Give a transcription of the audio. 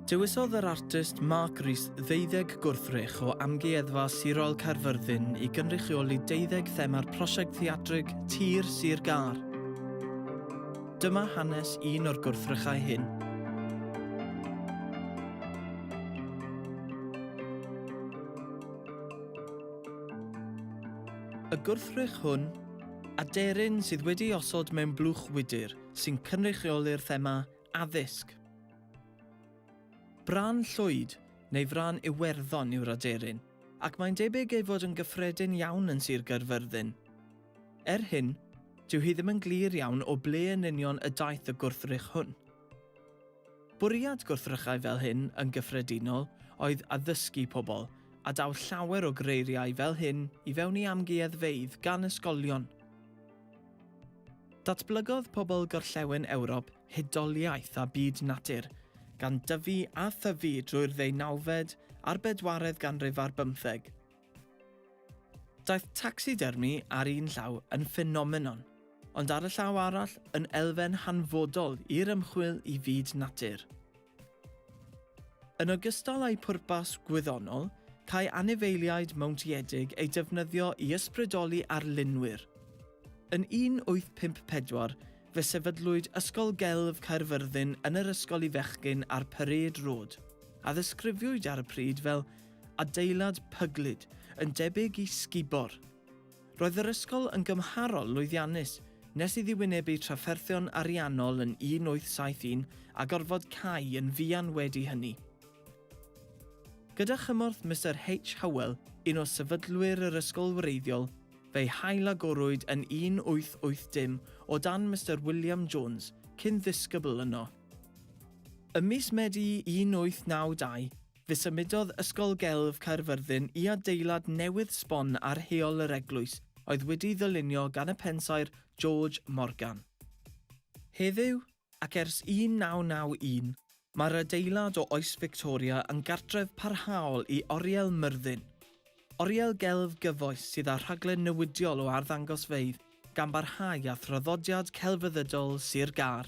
Dewisodd yr artist Mark Rees ddeuddeg gwrthrych o Amgueddfa Sirol Caerfyrddin i gynrychioli deuddeg thema'r prosiect theatrig Tir Sir Gâr. Dyma hanes un o'r gwrthrychau hyn. Y gwrthrych hwn, aderyn sydd wedi'i osod mewn blwch wydr sy'n cynrychioli'r thema addysg. Brân Llwyd, neu Frân Iwerddon yw'r aderyn, ac mae'n debyg ei fod yn gyffredin iawn yn Sir Gaerfyrddin. Er hyn, dyw hi ddim yn glir iawn o ble yn union y daeth y gwrthrych hwn. Bwriad gwrthrychau fel hyn yn gyffredinol oedd addysgu pobl, a daw llawer o greiriau fel hyn i fewn i amgueddfeydd gan ysgolion. Datblygodd pobl Gorllewin Ewrop hudoliaeth a byd natur, gan dyfu a thyfu drwy'r ddeunawfed a'r bedwaredd ganrif ar bymtheg. Daeth tacsidermi ar un llaw yn ffenomenon, ond ar y llaw arall yn elfen hanfodol i'r ymchwil i fyd natur. Yn ogystal â'i phwrpas gwyddonol, câi anifeiliaid mowntiedig eu defnyddio i ysbrydoli arlunwyr. Yn 1854 fe sefydlwyd Ysgol Gelf Caerfyrddin yn yr ysgol i fechgyn ar Parade Road, a ddisgrifiwyd ar y pryd fel adeilad pyglyd yn debyg i sgubor. Roedd yr ysgol yn gymharol lwyddiannus nes iddi wynebu trafferthion ariannol yn 1871 a gorfod cau yn fuan wedi hynny. Gyda chymorth Mister H. Howell, un o sefydlwyr yr ysgol wreiddiol, fe'i hailagorwyd yn 1880 o dan Mister William Jones, cyn-ddisgybl yno. Ym mis Medi 1892, Fe symudodd Ysgol Gelf Caerfyrddin i adeilad newydd sbon ar heol yr eglwys oedd wedi'i ddylunio gan y pensaer George Morgan. Heddiw, ac ers 1991, mae'r adeilad o oes Fictoria yn gartref parhaol i Oriel Myrddin, oriel gelf gyfoes sydd â rhaglen newidiol o arddangosfeydd gan barhau â thraddodiad celfyddydol Sir Gâr.